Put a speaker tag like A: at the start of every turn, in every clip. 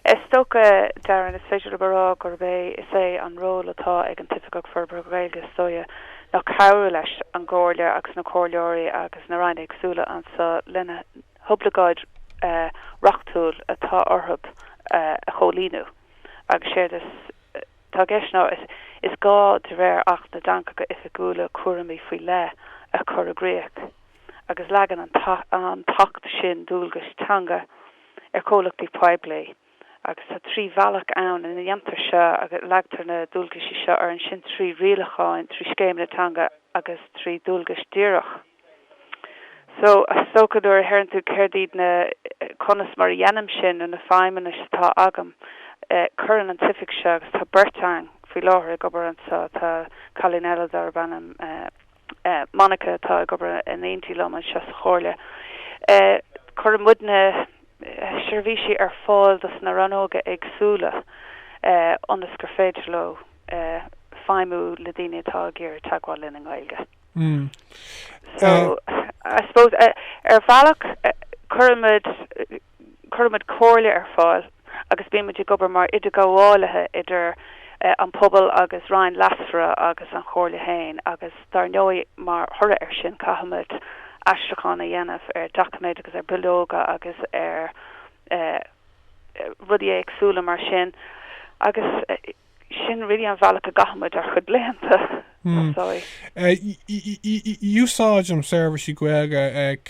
A: Is dócha, Darren, is féidir liom a rá gurb é is é an ról atá ag an tOifigeach Forbartha Gaeilge is dóigh ná cabhrú leis an gComhairle agus na Comhairleoirí agus na Ranna éagsúla anso lena hoibleagáidí reachtúil atá orthu a chomhlíonadh agus séard atá i gceist ná is gá de réir Acht na dTeangacha Oifigiúla cúramaí faoi leith a chur i gcrích agus leagann an tAcht sin dualgais teanga ar chomhlachtaí poiblí agus tá trí bhealach ann ina ndéantar seo agus leagtar na dualgaisí seo orainn sin trí rialacháin, trí scéimeanna teanga agus trí dualgais díreach. So, is dócha nuair a deireann tú céard iad na, conas mar a dhéanaim sin nó na feidhmeanna atá agam, cuireann an oifig seo agus tá beirt againn faoi láthair ag obair anseo, tá cailín eile darb ainm, Monica atá ag obair in éindí liom anseo sa Chomhairle. Cuireann muidne seirbhísí ar fáil dos na rannóga éagsúla ionas gur féidir leo feidhmiú le daoine atá ag iarraidh teagmháil linn i nGaeilge. So, I suppose, ar bhealach, cuireann muid, Cuirimid comhairle ar fáil agus bímid ag obair mar idirghabhálaithe idir an pobal agus ranna lasmuigh agus an Chomhairle féin agus dár ndóigh mar thoradh ar sin caithfimid aistriúchán a dhéanamh ar doiciméid agus ar bhileoga agus ar rudaí éagsúla mar sin agus sin really an bhealach a gcaithimid ár gcuid laethanta
B: so. Úsáidim seirbhísí Gaeilge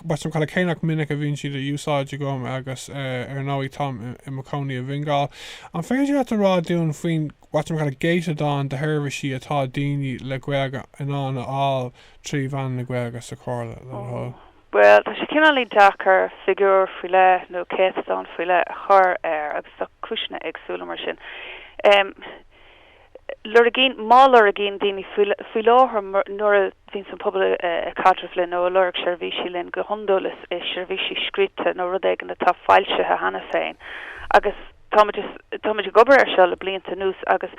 B: what-you-may-call-it cé nach minic a bhíonn siad á n-úsáid agam agus ar ndóigh táim i mo chónaí i bhFingal. An féidir leat a rá dúinn faoin what-you-may-call-it gcéatadán de sheirbhísí atá daoine le Gaeilge in ann a fháil trí mheán na Gaeilge sa Chomhairle? Bhuel, tá
A: sé cineálín deacair figiúr faoi leith nó céatadán faoi leith a chur air agus tá cúiseanna éagsúla mar sin. Lorgaíonn, má lorgaíonn daoine faoi láthair nuair a bhíonns an pobal ag caidreamh linn nó ag lorg seirbhísí linn go hiondúil is seirbhísí scríofa nó rud éigin atá foilsithe cheana féin agus, Táimid ag obair ar seo le blianta anuas agus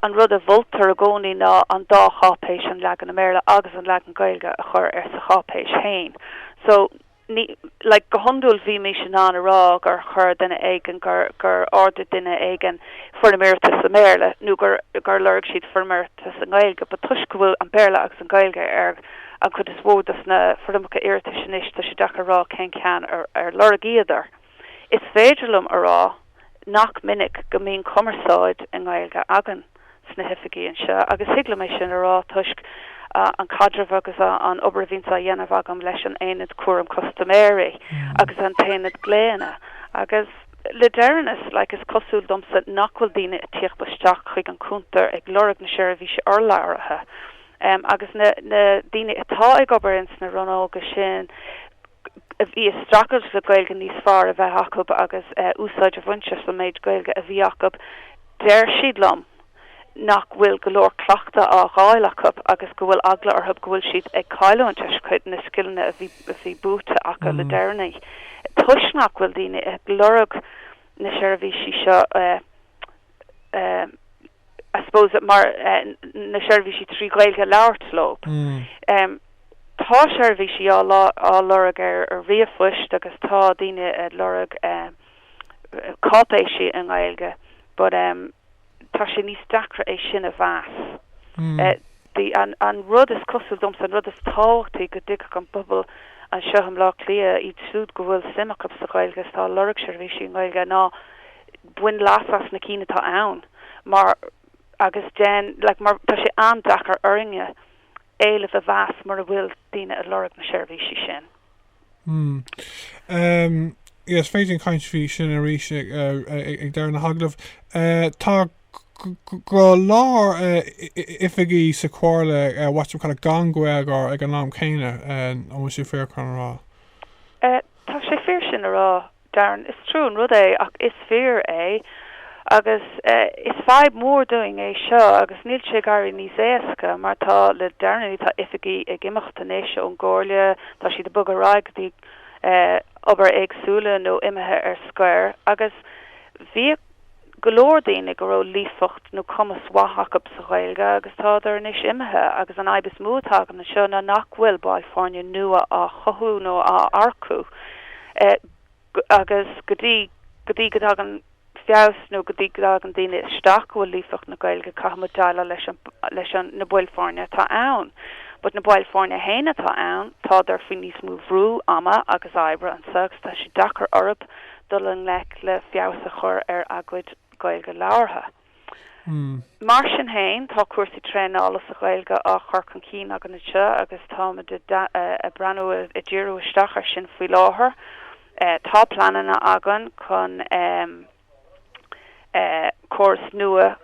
A: an rud a mholtar i gcónaí ná an dá cháipéis, an leagan i mBéarla agus an leagan Gaeilge, a chur ar, sa cháipéis féin. So, ní, like, go hiondúil bhímís in ann a rá gur chuir duine éigin, gur, gur ordaigh duine éigin foirm iarratais i mBéarla nó gur, gur lorg siad foirm iarratais i nGaeilge but toisc go bhfuil an Béarla agus an Ghaeilge ar an chuid is mhó dos na foirmeacha iarratais anois, tá sé deacair a rá cén ceann a lorgaíodar. Is féidir liom a rá nach minic go mbíonn cumarsáid i nGaeilge againn sna hoifigí anseo agus thig liom é sin a rá toisc an caidreamh agus an obair a bhíonns á dhéanamh agam leis an Aonad Cúram Custaiméirí agus an tAonad Glaonna agus le deireanas like is cosúil domsa nach bhfuil daoine a tíocht isteach chuig an cúntar ag lorg na seirbhísí urlabhraithe. agus na daoine atá ag obair sna rannóga sin a bhí ag streachailt le Gaeilge níos fearr a bheith acu agus úsáid a bhaint as an méid Gaeilge a bhí acu, deir siad liom nach bhfuil go leor cleachtadh á dh'fháil acu agus go bhfuil eagla orthu go bhfuil siad ag cailliúint cuid de na scileanna a bhí buaite acu le deireanaí toisc nach bhfuil daoine ag lorg na seirbhísí seo. I suppose mar na seirbhísí trí Ghaeilge a labhairt leo. Tá seirbhísí á lorg ar ríomhphoist agus tá daoine ag lorg cáipéisí i nGaeilge but tá sé níos deacra é sin a mheas. An rud is cosúil domsa, an rud is tábhachtaí go dtuigfeadh an pobal anseo i mBleá Cliath, iad siúd go bhfuil suim acu sa Ghaeilge is tá ag lorg seirbhísí i nGaeilge, ná bain leas as na cinn atá ann mar agus déan like mar tá sé an-deacair orainne éileamh a mheas mura bhfuil daoine ag lorg na seirbhísí sin.
B: Hm. Yes, féidir linn caint faoi sin arís ag ag deireadh na hagallamh. Tá go leor oifigí sa Chomhairle what's it called gan Gaeilgeoir ag an am céanna, an bhfuil sé fíor chun a rá? Tá
A: sé fíor sin a rá. Darren, Is trua an rud é ach is fíor é agus is fadhb mhór dúinn é seo agus níl sé ag éirí níos éasca mar tá, le deireanaí tá oifigigh ag imeacht anois ón gComhairle, tá siad ag bogadh ar aghaidh go dtí obair éagsúla nó imithe ar scor agus bhí, go leor daoine go raibh líofacht nó cumas mhaith acu sa Ghaeilge agus tádar anois imithe agus an fhadhb is mó atá againn anseo ná nach bhfuil baill foirne nua á chothú nó á earcú agus go dtí go dtí go dtagann feabhas nó go dtí go dtagann daoine isteach go bhfuil líofacht na Gaeilge caithfidh muid déileáil leis an leis an na baill foirne atá ann but na baill foirne féin atá ann tádar faoi níos mó bhrú ama agus oibre anseo agus tá sé deacair orthu dul i ngleic le feabhas a chur ar a gcuid Gaeilge labhartha. Mar sin féin, tá cúrsaí traenála sa Ghaeilge á chur chun cinn againn anseo agus táimid ag breathnú ag díriú isteach air sin faoi láthair. Tá pleananna againn chun córas nua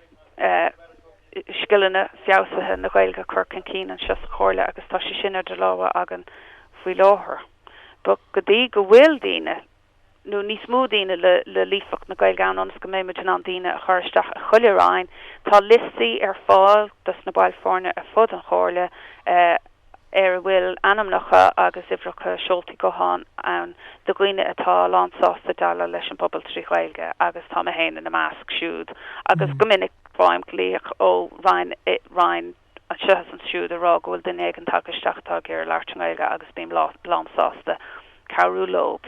A: scileanna feabhsaithe na Gaeilge a chur chun cinn anseo sa Chomhairle agus tá sé sin idir lámha againn faoi láthair. But go dtí go bhfuil daoine nó níos mó daoine le líofacht na Gaeilge ann ionas go mbeidh muid in ann daoine a chur isteach i chuile roinn. Tá liostaí ar fáil do na baill foirne ar fud an chomhairle ar a bhfuil ainmneacha agus uimhreacha seoltaí gutháin ann do dhaoine atá lán sásta déileáil leis an bpobal trí Ghaeilge agus tá mé féin ina measc siúd agus go minic faighim glaoch ó roinn. anseo is ansiúd a rá go bhfuil duine ag an, tagtha isteach atá ag iarraidh labhairt i nGaeilge agus bím lán sásta cabhrú leob.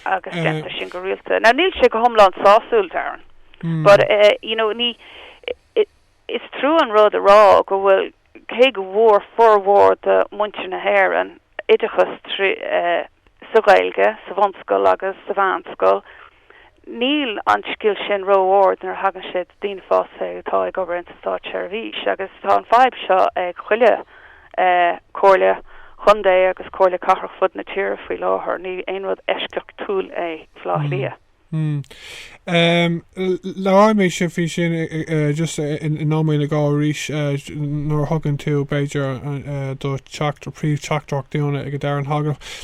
A: Agus déantar sin go rialta. Now níl sé go hiomlán sásúil, dár ndóigh, but you know, is trua an rud a rá go bhfuil cé go bhfuair formhór de mhuintir na hÉireann oideachas sa Ghaeilge sa bhunscoil agus sa mheánscoil, níl an scil sin ró-ard nuair a thagann sé do daoine fásta atá ag obair ins an Státseirbhís agus tá an fhadhb seo ag chuile Comhairle Contae agus Comhairle Cathrach fud na tíre faoi láthair. Ní aon rud eisceachtúil é Baile Átha
B: Cliath. Labhróidh mé faoi sin just i nóiméad más gá arís nuair a thugann tú b'fhéidir do teacht, do phríomhtheachtaireacht dúinn ag an deireadh an tagairt.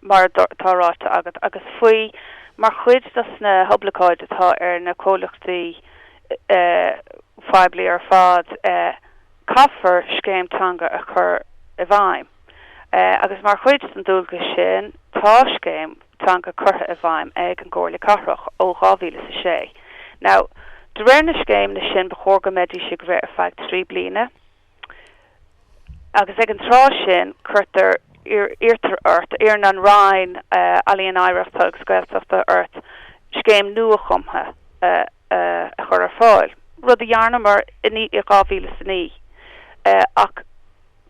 A: mar atá ráite agat, agus faoi mar chuid de na hoibleagáidí atá ar na comhlachtaí poiblí ar fad, caithfear scéim teanga a chur i bhfeidhm, agus mar chuid den dualgas sin, tá scéim teanga curtha i bhfeidhm ag an gComhairle Cathrach ó 2000 is a sé. Now, de réir na scéimeanna sin ba chóir go mbeidís ag rith ar feadh trí bliana, agus ag an tráth sin cuirtear, iarrtar ort, iarrann an Roinn Ealaíon Oidhreachta agus Gaeltachta ort scéim nuachumtha a chur ar fáil, rud a rinneamar i 2009 ach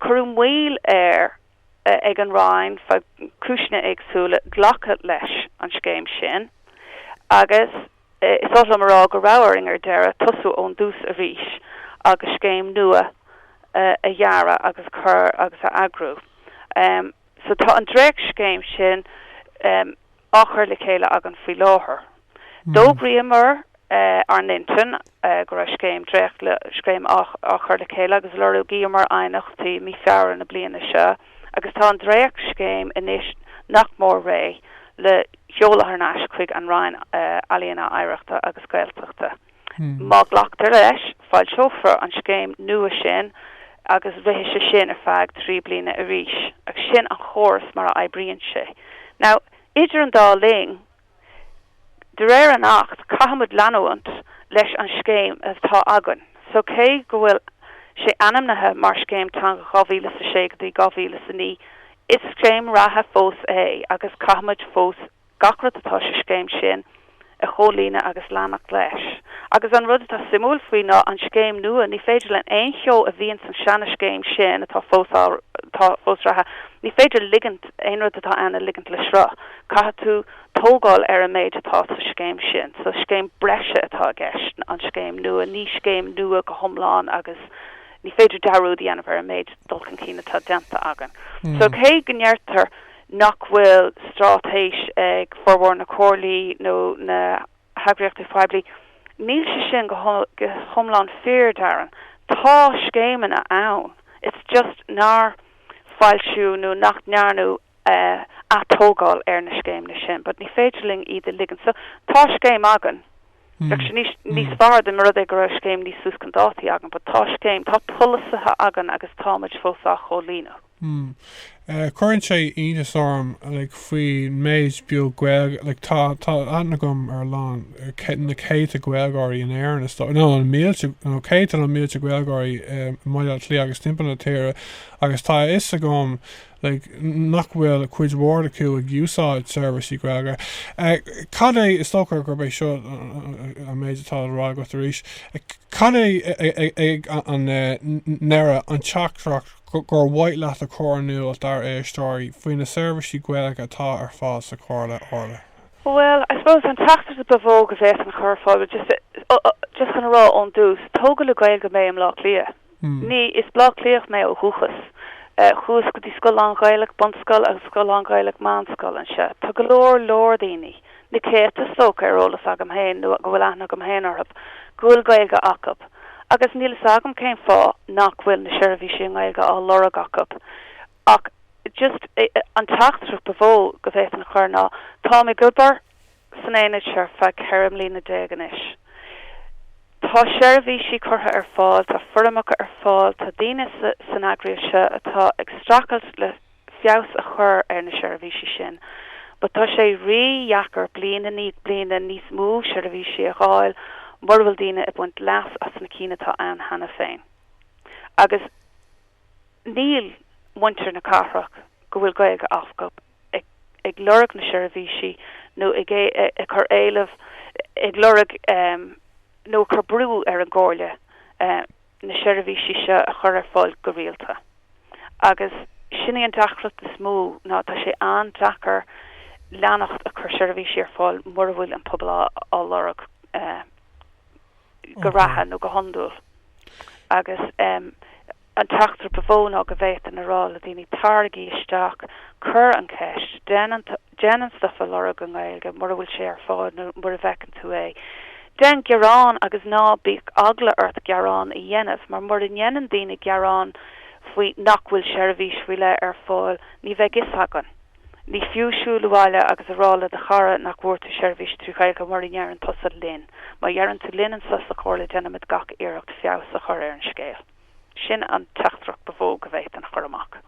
A: cuireadh moill air ag an Roinn faoi chúiseanna éagsúla glacadh leis an scéim sin agus, Is oth liom a rá go raibh orainn ar deireadh tosú ón dtús arís agus scéim nua a dhearadh agus a chur agus a eagrú. So tá an dréachtscéim sin á chur le chéile againn faoi láthair. D'fhógraíomar ár n-intinn go raibh scéim dréachtscéim á chur le chéile agus lorgaíomar aighneachtaí mí Feabhra na bliana seo agus tá an dréachtscéim anois nach mór réidh le seoladh ar ais chuig an Roinn Ealaíona, Oidhreachta agus Gaeltachta. Má ghlactar leis, foilseofar an scéim nua sin agus rithfidh sé sin ar feadh trí bliana arís agus sin an córas mar a oibríonn sé. Now, idir an dá linn, De réir an Acht caithfimid leanúint leis an scéim atá againn so cé go bhfuil sé ainmnithe mar Scéim Teanga 2006 go dtí 2009 is scéim reatha fós é agus caithfimid fós gach rud atá sa scéim sin a chomhlíonadh agus leanacht leis. Agus an rud atá suimiúil faoi ná an scéim nua ní féidir linn aon cheo a bhíonn san seana scéim sin atá fós á atá fós reatha ní féidir ligint aon rud atá ann a ligint le sruth. Caithfidh tú tógáil ar an méid atá sa scéim sin. So scéim breise atá i gceist, an scéim nua. Ní scéim nua go hiomlán agus ní féidir dearúd a dhéanamh ar an méid dul chun cinn atá déanta againn. So cé go ndeirtear nach bhfuil straitéis ag formhór na comhairlí nó na heagraíochtaí poiblí, níl sé sin go hiomlán fíor, Darren. Tá scéimeanna ann, it's just nár foilsíodh nó nach ndearnadh atógáil ar na scéimeanna sin but ní féidir linn iad a ligean so tá scéim againn Bheadh sé níos níos fearr dá mba rud é go raibh scéim níos suas chun dáta againn but tá scéim tá polasaithe againn agus táimid fós á chomhlíonadh.
B: Cuireann sé iontas orm like faoin méid beag Gaeilge like tá tá aithne agam ar a lán na céadta Gaeilgeoirí in Éirinn is dóigh nó na mílte nó céadta nó mílte Gaeilgeoirí i mBaile Átha Cliath agus timpeall na tíre agus tá a fhios agam like, nach bhfuil cuid mhór acu ag úsáid seirbhísí Gaeilge. Cad é, is dócha gurb é seo an méid atá le rá agat arís, cad é ag an ndeireadh an teachtaireacht ar mhaith leat a chur in iúl dár éisteoirí faoi na seirbhísí Gaeilge atá ar fáil sa Chomhairle? Orla. Bhuel, I
A: suppose an teachtaireacht ba mhó go bhféadfainn a chur ar fáil, just chun a rá ón dtús, tógadh le Gaeilge mé i mBleá Cliath. Ní, is Bleá Cliathach mé ó dhúchas. Chuas go dtí scoil lán-Ghaelach, bunscoil, agus scoil lán-Ghaelach, meánscoil, anseo. Tá go leor, leor daoine, na céadta is dócha, ar eolas agam féin, nó go bhfuil aithne agam féin orthub, go bhfuil Gaeilge acub. Agus níl a fhios agam cén fáth nach bhfuil na seirbhísí i nGaeilge á lorg acub. Ach just an teachtaireacht ba mhó go bhféadfainn a chur ná, táim ag obair, san aonad seo ar feadh 14 mbliana anois. Tá seirbhísí curtha ar fáil, tá foirmeacha ar fáil, tá daoine san eagraíocht seo atá ag streachailt le feabhas a chur ar na seirbhísí sin. But tá sé rí-dheacair bliain i ndiaidh bliana níos mó seirbhísí a fháil mura bhfuil daoine ag baint leas as na cinn atá ann cheana féin. Agus níl muintir na cathrach go bhfuil Gaeilge acub. ag lorg na seirbhísí nó ag cur éileamh ag lorg nó ag cur brú ar an gComhairle na seirbhísí seo a chur ar fáil go rialta agus sin í an deacracht is mó ná tá sé an-deacair leanacht ag cur seirbhísí ar fáil mura bhfuil an pobal á lorg go reatha nó go hiondúil agus An teachtaireacht ba mhó ná go bhféadfainn a rá le daoine 'taraigí isteach, cuir an cheist, déan an stuif a lorg i nGaeilge mura bhfuil sé ar fáil nó mura bhfeiceann tú é, déan gearán agus ná bíodh eagla ort gearán a dhéanamh mar mura ndéanann daoine gearán faoi nach bhfuil seirbhís faoi leith ar fáil ní bheidh 'fhios againn. Ní fiú siúl abhaile agus a rá le do chara nach bhfuair tú seirbhís trí Ghaeilge mura ndeireann tusa linn. Má dheireann tú linn anseo sa Chomhairle déanfaimid gach iarracht feabhas a chur ar an scéal. Sin an teachtaireacht ba mhó go bhféadfainn a chur amach.